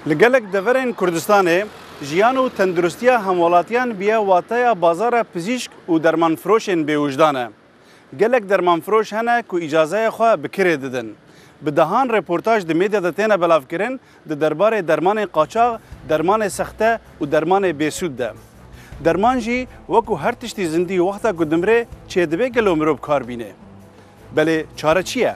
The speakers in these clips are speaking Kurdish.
Li gelek deverên Kurdistanê jiyan û tenduristiya hemwelatiyan biya wateya bazara pizîşk û dermanfiroşên bêwijdan e. Gelek dermanfiroş hene ku îcazeyê xwe bi kirê didin. Bi dehan reportaj di medya de têne belavkirin di derbarê dermanê qaçax, dermanê sexte û dermanê bêsûd de. Derman jî wekû her tiştî zindî wexta ku dimire çêdibe gelo mirov kar bîne. Belê çare çi ye?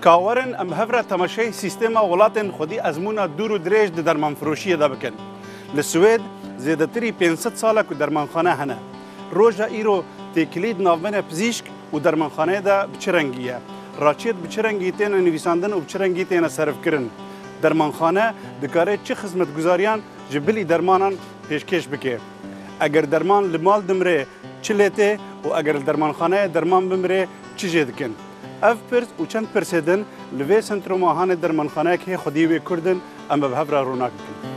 Ka werin em hev re temaşeyê sîstêma welatên xwedî ezmûna dûr û dirêj di dermanfiroşiyê de bikin. Li Swêd zêdetirî pênc sed sal e ku dermanxane hene. Roja îro têkilî di navbera pizîşk û dermanxaneyê de bi çi rengî ye? Raçiyet bi çi rengî têne nivîsandin û bi çi rengî têne serifkirin? Dermanxane dikare çi xizmetguzariyan ji bilî dermanan pêşkêş bike? Eger derman li mal dimire çi lê tê û eger li dermanxaneyê derman bimire Çi jê dikin? Ev pirs û çend pirsê din li vê sentroma hane dermanxaneyek hê xwedî wê kurd in em bi hev re rûnak bikin.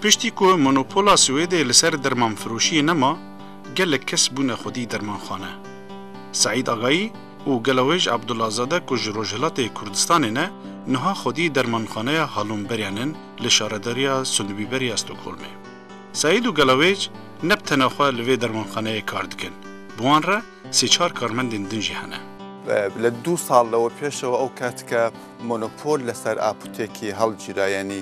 Piştî ku monopola Swêdê li ser dermanfiroşiyê nema, gelek kes bûne xwedî dermanxane. Seîd Agayî û gelawêj Abdulazade ku ji Rojhilatê Kurdistanê ne, niha xwedî dermanxaneya Hallonbergen in li şaredariya Sundbyberg ya Stokholmê. Seîd û gelawêj ne bi tena xwe li vê dermanxaneyê kar dikin, bi wan re sê çar karmendên din jî hene. Li du sal lewe pêşewe ew kesk e monopol li ser apûtêkê hilgîra, yanî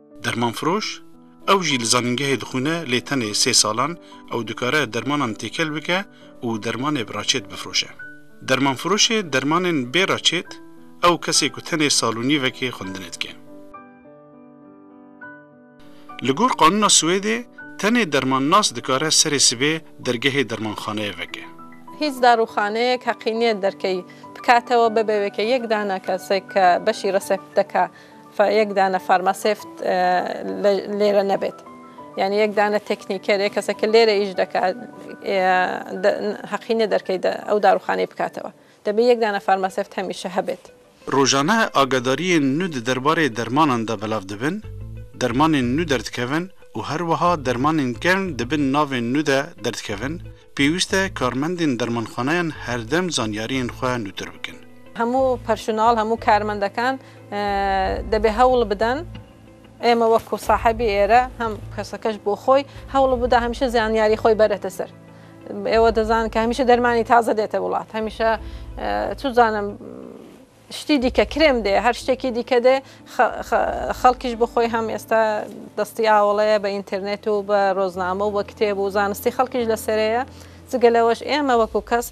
Dermanfiroş, Ew jî li zanîngehê dixwîne lê tenê sê salan, ew dikare dermanan têkel bike û dermanê bi raçêt bifiroşe. Dermanfiroşê dermanên bê raçêt, Ew kesê ku tenê sal û nîvekê xwendinê dike. Li gor qanûna Swêdê, tenê dermannas dikare serê sibê dergehê dermanxaneyê veke. Hîç darûxaneyek heqî niye derkeyî bikatewe bebe weke yek dana kesek ke beşî resepteke Fa yek dane farmasevt lê re nebêt. Yanî yek dane teknîkerê, keseke lê re îş deke heqî nê derkey de ew darûxaneyê bikatewe. Debê yek dane farmasevt hemîşe hebêt. Rojane agadariyên nû di derbarê dermanan de belav dibin, dermanên nû derdikevin û her wiha dermanên kevn di bin navên nû de derdikevin, pêwîst e karmendên dermanxaneyan herdem zanyariyên xwe nûtir bikin. Hemû perşonal, hemû karmendekan Debê hewl bidin ême wek ku sahebî êre hem kesekeş bo xoy hewl bida hemîşe zanyarî xoy berete ser. Êwe dizanin ke hemîşe dermanî taze dête wilat. Hemîşe tu zanim ştî dîke krêm dê her ştekî dîke dê xelkî ji bo xoy hem êsta destî awile ye be înternêt û be rozname û be kitêb û zanistî xelkî ji li serê ye. Zigele weş ême wek ku kes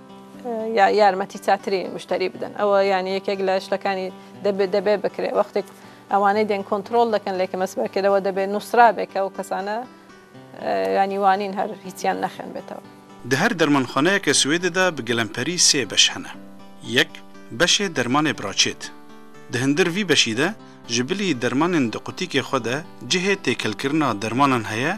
ya yarmetî çatirî muşterî bidin. Ew yanî yekek li tiştekanî debe debe bikire. Wextê ku ewanê dên kontrol dikin lê kime sibe kir ew debe nûsrabe ke ew kesane yanî wanîn her hîçiyan nexin bêtewe. Di her dermanxaneyeke Swêdê de bi gelemperî sê beş hene. Yek, beşê dermanê biraçêt. Di hindir vî beşî de ji bilî dermanên di qutîkê xwe de cihê têkelkirina dermanan heye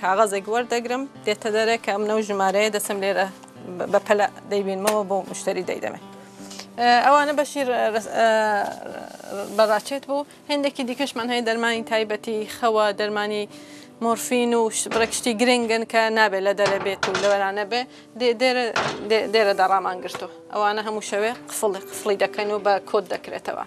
Kaxezek werdegirim dê te dere ke em new jimareyê destem lê re be pele dey bînime we bo muşterî dey deme. Ewa ne beşî beraçêt bû. Hêndekî dîke ji man heye dermanî taybetî, xewa, dermanî morfîn û birek ştî girêng in ke nabê le dere bêt û li we re nebe. Dê dê re dê dê re de raman girto. Ewa ne hemû şewê qifil qifilî dekin û be kod dekire teva.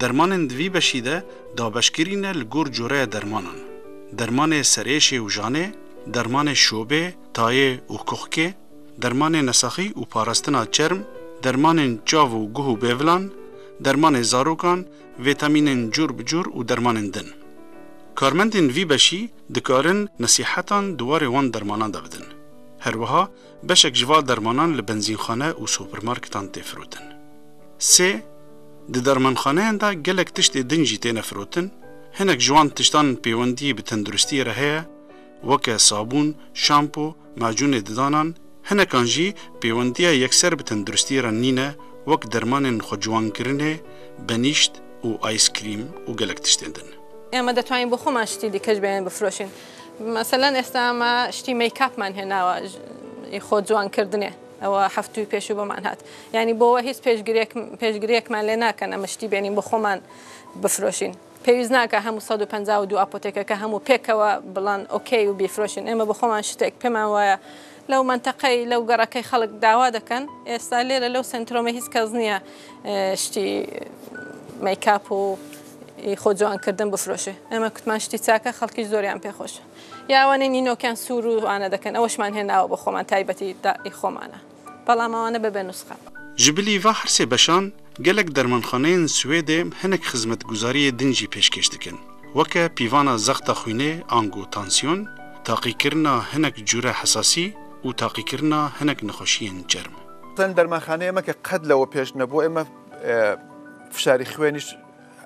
Dermanên di vî beşî de dabeşkirîne li gor coreya dermanan, dermanê serêşê û janê, dermanê şobê, tayê û kuxkê, dermanê nesaxî û parastina çerm, dermanên çav û guh û bêvilan, dermanê zarokan, vîtamînên cor bi cor û dermanên din. Karmendên vî beşî dikarin nesîhetan di warê wan dermanan de bidin. Herwiha Beşek ji va dermanan li benzînxane û supermarketan tê firotin. Sê, Di dermanxaneyan de gelek tiştê din jî têne firotin, hinek ji wan tiştan pêwendiyê bi tenduristiyê re heye, weke sabûn, şampo, macûnê didanan, hinekan jî pêwendiya yekser bi tenduristiyê re nîne, wek dermanên xweciwankirinê, benîşt û ayskrîm û gelek tiştên din. Ema detwayîn bo xwe man ji tî dîkej bêyên bifroşîn. Meselen êsta me ştî make-up man hê nawa ji xwe ciwan kirdinê. Ewa heftûyê pêşû bi man hat. Yanî bo we hîç pêşgiriyek pêşgiriyek man lê nakin em ştî bênîn bi xwe man bifiroşîn. Pêwîst nake hemû sed û penca û du apotêkeke hemû pêkewe bilan okey û bîfiroşin. Ême bi xwe man şitêk pê man waya Lew menteqey, lew gerekey xelk dawa dikin. Êsta lêre lew sentromê hîs kes niye ştî make-up û xwe ciwan kirdin bifroşe. Eme kutman ştî çake xelkî ji zoriyan pê xweş e. Ya wanê nînokiyan sûr û wane dikin. Ew şiman hê nawa bo xweman taybetî da ê xwemane. Belam ewane bibe nusxe. Ji bilî va her sê beşan Gelek dermanxaneyên Swêdê hinek xizmetguzariyê din jî pêşkêş dikin. Weke pîvana zexta xwînê ango tansiyon, taqîkirina hinek cûre hesasî û taqîkirina hinek nexweşiyên çerm. Ten dermanxaneyê me ke qet lewe pêş nebû ê me fişarî xwênîş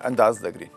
endaz digrîn.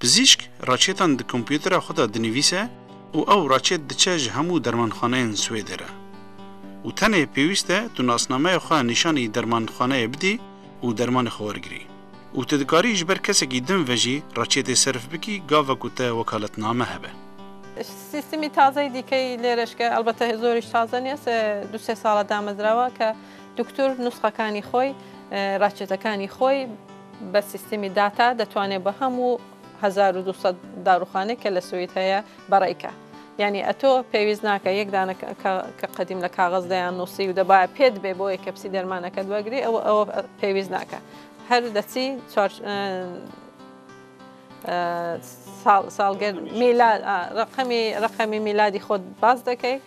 Pizîşk reçetan di kompûtera xwe de dinivîse û ew reçet diçe ji hemû dermanxaneyên Swêdê re. Û tenê pêwîst e tu nasnameya xwe nîşanî dermanxaneyê bidî û dermanê xwe wergirî. Û tu dikarî ji ber kesekî din ve jî reçetê serf bikî gava ku te wekaletname hebe. Sîstemî tazeyî dîkeyî lê reşk e, elbete zor jî taze nî ez du sê sal e damezrawa ke duktur nusxekanî xwe, reçetekanî xwe, Bi sîstemî data detwanê bi hemû hezar û du sed daruxane ke li Swîd heye bereyke. Yanî eto pêwîst nake yek dane ke qedîm li kaxiz de yan nûsî û deba pê dibe bo yeke pisî dermaneke diwegirî ew ew pêwîst nake. Her destî çar sal salgird mîlad a reqemî reqemî mîladî xwe baz dike.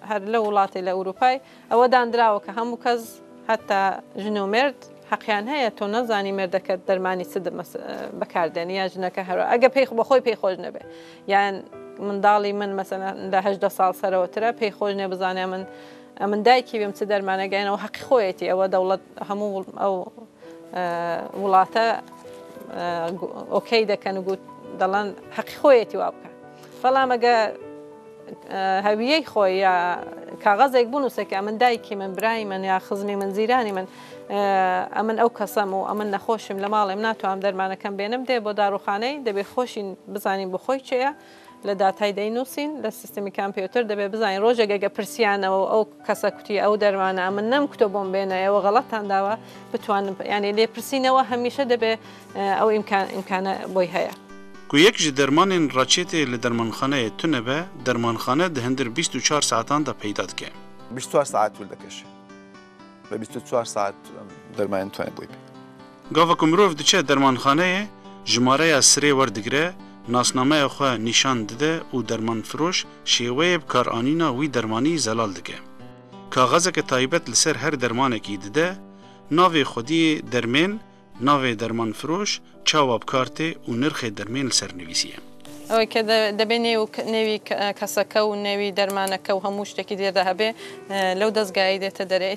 Her li welatê li Ewropayê ewe dan dirawe ke hemû kes heta jin û mêrd heqeyan heye. To nezanî mêrdeke di dermanî çi di bekar denî ya jineke hero ege pey bi xwe pey xweş nebe yan mindalî min mesela da hejdeh sal serewetir e pey xweş nebizane em in em in daykî bim çi dermane geyne ew heqî xwe yetî ewe dewlet hemû ew welate okey deken û got delan heqî xwe yetî wa bike belam ege Hewiyey xwe ya kaxezek bûnûse ke em in dayikî min, birayî min ya xizmî min, zîranî min, em in ew kes em û em in nexweş im li malê min natwanim dermanekem bênim dê bo daroxaneyî dibê xweşî bizanîn bo xwe çi ye li datayî deyî nûsîn li sîstemî kompîûter dibê bizanîn rojek ege pirsîyane û ew Kesa kutiye ew dermane a min nem kuto bom bêne ew xelatan dawa bitwanin yanî lêpirsîne wa hemîşe dibe ew îmkan îmkane boy heye. Ku yek ji dermanên reçeteyê li dermanxaneyê tune be, dermanxane di hindir bîst û çar saetan de peyda dike. Bîst û çar saet tûl dikeşe. Bi bîst û çar saet dermanên tune boy bê. Gava ku mirov diçe dermanxaneyê, jimareya sirê werdigire, nasnameya xwe nîşan dide û dermanfiroş şêweyê bikaranîna wî dermanî zelal dike. Kaxezeke taybet li ser her dermanekî dide, navê xwediyê dermên, navê dermanfiroş, çawa bi kar tê û nirxê dermên li ser nivîsî ye. Ew ke dibê nêwî keseke û nêwî dermaneke û hemû ştekî diyê de hebê, lew dezgayî dête derê.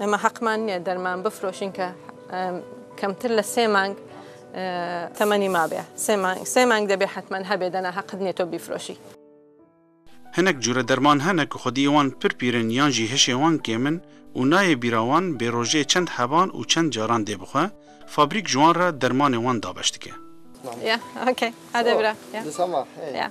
Ema heqman niye derman bifroşin ke kemtir li sê mang temenî mabe. Sê mang sê mang debê hetman hebê dana heq dinê to bîfroşî. Hinek cure derman hene ku xwediyê wan pir pîr in yan jî hişê wan kêm in û nayê bîra wan bê rojê çend hevan û çend caran dê bixwe, fabrîk ji wan re dermanê wan dabeş dike. Yeah okay. Ade bira. Yeah. Yeah.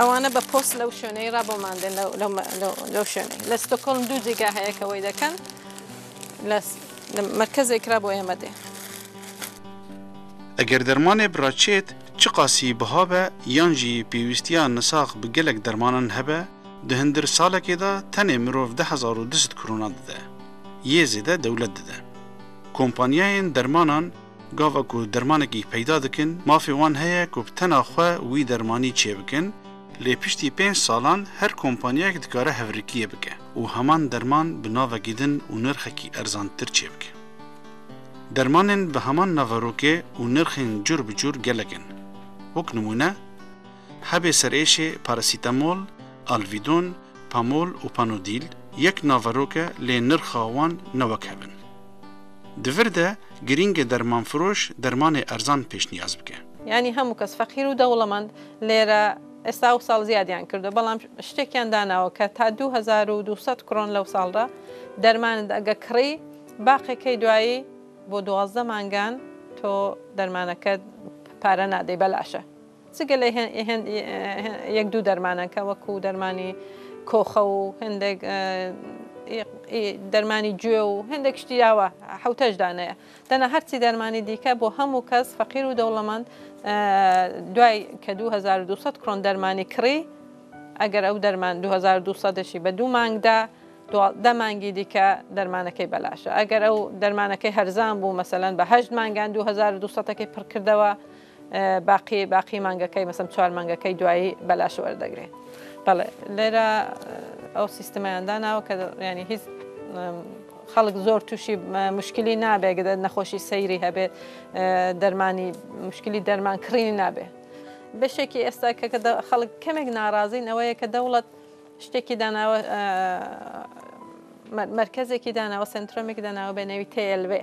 Ewane bi post lew şoneyê re bo mendin lew lew lew şoneyê. Li Stockholm du cîgeh heye ke wey dekin. Li li merkezêk re bo Amedê. Eger dermanê bi re çêt, çiqasî biha be yan jî pêwîstiya nisax bi gelek dermanan hebe, di hindir salekê de tenê mirov deh hezar û du sed krona dide. Yê zêde dewlet dide. Kompanyayên dermanan, Gava ku dermanekî peyda dikin, mafê wan heye ku bi tena xwe wî dermanî çêbikin, lê piştî pênc salan her kompanyayek dikare hevrikiyê bike û heman derman bi navekî din û nirxekî erzantir çêbike. Dermanên bi heman naverokê û nirxên cur bi cur gelek in. Wek nimûne. Hebê serêşê parasîtemol, alvîdon, pamol û panodîl yek naverok e lê nirxa wan ne wek hev in. Di vir de girîng e dermanfiroş dermanê erzan pêşniyaz bike. Yanî hemû kes feqîr û dewlemend lê re êsta wsal ziyadiyan kirdo belam ştekiyan danawo ke ta du hezar û du sed kron lewsal re derman dige kirî baqê key duayî bo duwazdeh mangan to dermaneke pare nadey belaş e. Ti gelê hên yek dû dermaneke wekû dermanî koxe û hindek dermanî cûe û hindek ştî ya we hewteş dane ye. Tena her tî dermanî dîke bo hemû kes feqîr û dewlemend duay ke dû hezar û dû sed kron dermanî kirî eger ew derman dû hezar û dû sed jî be dû mang de duwazdeh mangî dîke dermanekey belaş e. Eger ew dermanekey herzan bû meselen be heşt mangan dû hezar û dû sedekê pirkirdewe. Beqî beqî mangekê meselem çar mangekê duayî belaş werdigrê. Bele lê re ew sîstemeyan dana ke yanî hîs xelk zor tûşî muşkilî nabe gide nexweşî seyrî hebe dermanî muşkilî derman kirînî nabe. Beşekî esta ke xelk kemek narazîn ew ye ke dewlet ştekî dana we merkezekî dana we sentromekî dana we be navî TLV.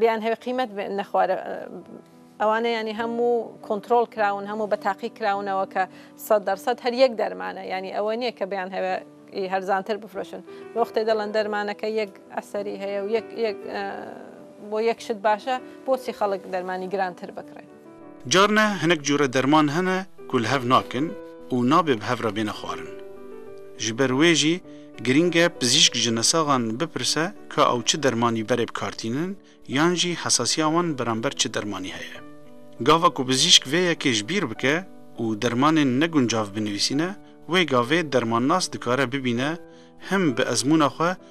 Bêyan hevê qîmet nexwar ewan e yanî hemû kontrol kirawin, hemû bi teqîk kirawin ewa ke sed dersed her yek derman e. Yanî ewa nîye ke bêyan hevê î herzantir bifroşin. Li wextê de lan dermaneke yek eserî heye û yek bo yek şit baş e, bosî xelk dermanî girantir bikire. Carne hinek cure derman hene ku li hev nakin û nabê bi hev re bêne xwarin. Ji ber wê jî girîng e pizîşk ji nesaxan bipirse ka ew çi dermanî berê bikartînin yan jî hesasiya wan beramber çi dermanî heye. Gava ku pizîşk vê yekê ji bîr bike û dermanên neguncav binivîsîne, wê gavê dermannas dikare bibîne him bi ezmûna xwe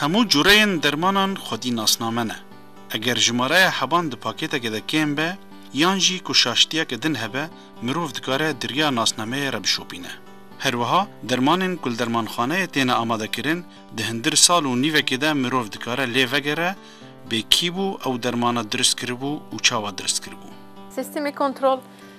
Hemû cureyên dermanan xwedî nasname ne. Eger jimareya heban di pakêtekê de kêm be yan jî ku şaştiyeke din hebe, mirov dikare di riya nasnameyê re bişopîne. Her wiha dermanên ku li dermanxaneyê têne amadekirin di hindir sal û nîvekê de mirov dikare lê vegere bê kî bû ew dermana dirist kiribû û çawa dirist kiribû. Sîstemê kontrol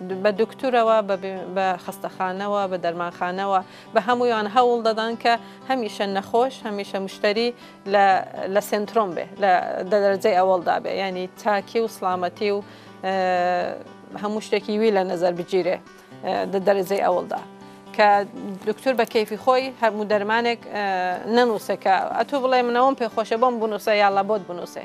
Bi doktora we, bi xestexane we, bi dermanxane we, bi hemûyan hewl dadan ke hemîşe nexweş, hemîşe muşterî li sentrom be, li dereceyê ewil de be. Yanî takî û silametî û hemû ştekî wî li nezer bicîre di dereceyê ewil de. Ke doktor bi keyfî xwe yî hemû dermanek nenûse ke tu bilê min ewin pê xweş e, bo min binûse ya labot binûse.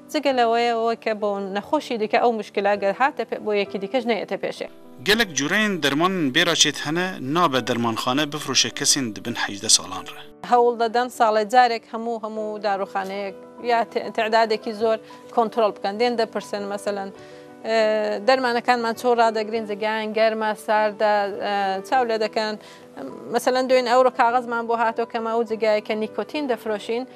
Jigele wê weke bo nexweşî dike ew muşkila ger hate pê bo yekî dike ji neyete pêşê. Gelek cureyên derman in bêra çêt hene nabe dermanxane bifroşe kesên di bin hejdeh salan re. Hewl deden sale carek hemû hemû daruxaneyek ya tedadekî zor kontrol bikin. Dên de pirsin meselen dermanekanman çaw radegrîn ji gehên germ a sar de çaw ledikin. Meselen doyên ewro kaxizman bo hato kema û ji geheke nîkotîn difiroşîn.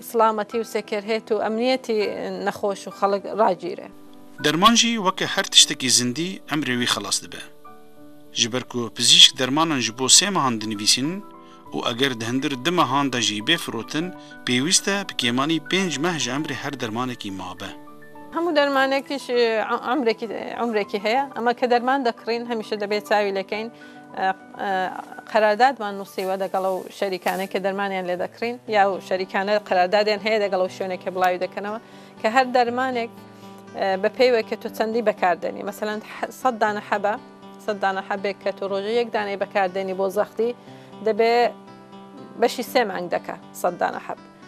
Silametî û sekerhêt û emniyetî nexweş û xelik ragîre. Derman jî weke her tiştekî zindî emrê wî xelas dibe. Ji ber ku pizîşk dermanan ji bo sê mehan dinivîsînin û eger di hindir du mehan de jî bê firotin, pêwîst e bi kêmanî pênc meh ji emrê her dermanekî mabe. Hemû dermanekî ji emrekî emrekî heye. Ema ke derman dekirîn hemîşe debê çavî lekeyn. Qerardad man nusîwe degel ew şerîkane ke dermanyan lê dekirîn ya ew şerîkane qerardadên heye degel ew şûne ke bilawi dikenewe ke her dermanek bi peyve ke tu çendî bekar denî. Meselen sed dane hebe, sed dane hebê ke tu rojê yek daneyê bekar denî bo zextî dibê beşî sê meng deke sed dane heb.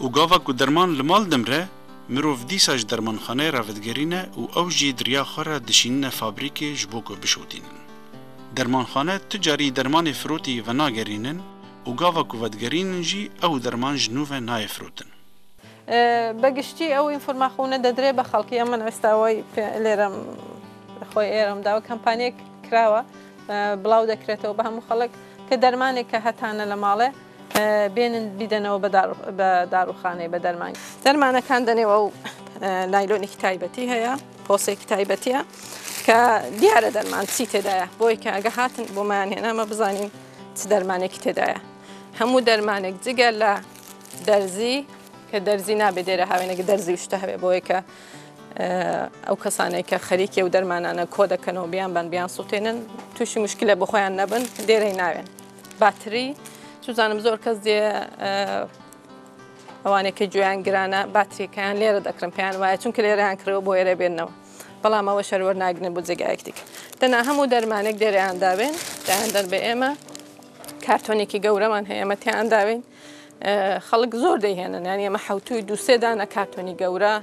Û gava ku derman li mal dimre, mirov dîsa ji dermanxaneyê re vedigerîne û ew jî di riya xwe re dişînine fabrîkê ji bo ku bişotînin. Dermanxane tu carî dermanê firotî venagerînin û gava ku vedigerînin jî ew derman ji nû ve nayê firotin. Be giştî ew înformaxûne dedire be xelkî. Ya min esta way lê re li xwe yê re dawe. Kampanyek kirawe, bilaw dekirêtewe be hemû xelk ke dermanê ke hetane li mal e. Bênin bîdenewe be darûxaneyê be derman. Dermanekan denê wew naylonekî taybetî heye, posekî taybetî ye ke diyar e derman çî têde ye. Bo yê ke ege hatin bo me yan hêne me bizanîn çi dermanekî têde ye. Hemû dermanek cigele derzî ke derzî nabê dêre hev êne ke derzî û şite hebe. Bo yê ke ew kesanê ke xerîk ew dermanane kode keno biyan ben biyan sotênin tûşî muşkîle bi xwe yan nebin dêreyê nayên. Battery, çû zanim zor kes dê ewanê ke cuyan girana battery ke yan lêre dekirin pê yan waya çunki lêre yan kirêwe bo êrê bêrnewe. Belam ew şer wer nagirne bo cegayek dîk. Dina hemû dermanek dêrê yan dabên dayan der bê ême. Kartonekî gewreman heye ême tê yan dabên. Xelik zor deyhênin yani ême hewtûyî dû sê dana kartonî gewra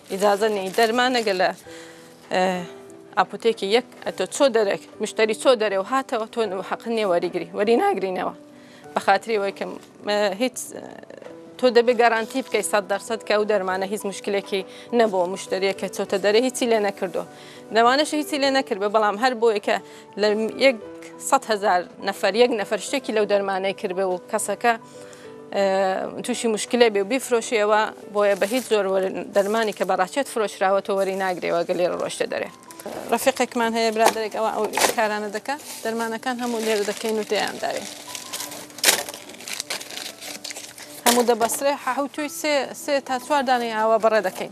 Îcaze neyî dermane gele apotêkê yek eto ço derek muşterî ço dere û hate û to heqin nê werî girî werî nagirîne we. Bi xatirî we ke hîç to debe garantî bikey sed dersed ke ew dermane hîç muşkilekî nebo muşteriyeke ço te dere hîçî lê nekirdo. Demanê şi hîçî lê nekiribe belam her boyê ke Li yek sed hezar nefer yek nefer ştekî lew dermanê kiribe û keseke tûşî muşkilê bê û bîfiroşê ewa boye be hîç zor dermanî ke bi reçet firoşrawe to werî nagirê wa gelê re roşte derê. Refîqek man heye biraderek ewa ew karane dike dermanekan hemû lê re dike û têyan dayê. Hemû debesre hewtûy sê ta çwar daneyê awa bi re dikeyn.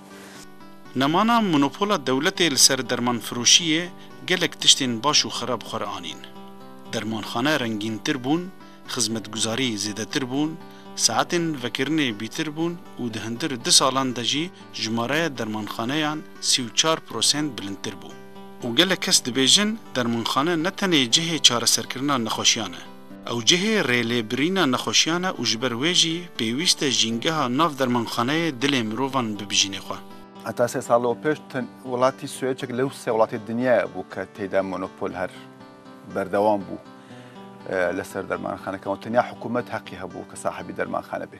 Nemana monopola dewletê li ser dermanfiroşiyê gelek tiştên baş û xerab xwe re anîn. Dermanxane rengîntir bûn, xizmetguzarî zêdetir bûn, saetên vekirinê bîtir bûn û di hindir du salan de jî jimareya dermanxaneyan sî û çar prosent bilindtir bû. Û gelek kes dibêjin dermanxane ne tenê cihê çareserkirina nexweşiyan e, Ew cihê rêlêbirîna nexweşiyan e û ji ber wê jî pêwîst e jîngeha nav dermanxaneyê dilê mirovan bibijînê xwe. Heta sê sal û pêş ten welatî Swêçek li sê welatê dinyayê bû ke tê de monopol her berdewam bû li ser dermanxanekan û tenya hikûmet heqî hebû ke sahibî dermanxane bê.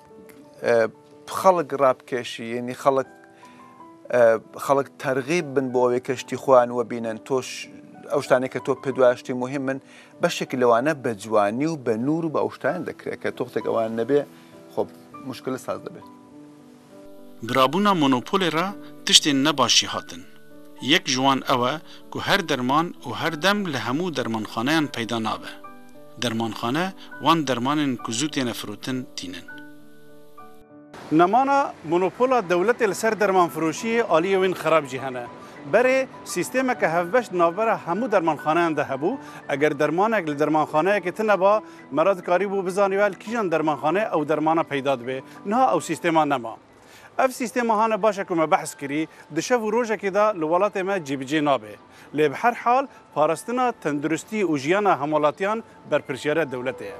Xelk rabkêşî yanî xelk xelk tergîb bin bo wê keştî xwe an we bînin. To ew ştanê ke to pê duaya ştî muhîm in beşekî li wane be ciwanî û be nûr û be ewştayan dekire ke toxteke ewan nebê xwe muşkile saz dibe. Birabûna monopolê re tiştên ne baş jî hatin. Yek ji wan ew e ku her derman û her dem li hemû dermanxaneyan peyda nabe. Dermanxane, wan dermanên ku zû têne firotin tînin. Nemana monopola dewletê li ser dermanfiroşiyê aliyê wîn xerab jî hene. Berê sîstemeke hevbeş di navbera hemû dermanxaneyan de hebû. Eger dermanek li dermanxaneyekê tine ba, me re dikarîbû bizanî we li kîjan dermanxaneyê ew dermana peyda dibê. Niha ew sîstema nema. Ev sîstêma hane başe ku me behs kirî, di şev û rojekê de li welatê me cîbicê nabe. Lê bi her hal parastina tenduristî û jiyana hemwelatiyan berpirsyariya dewletê ye.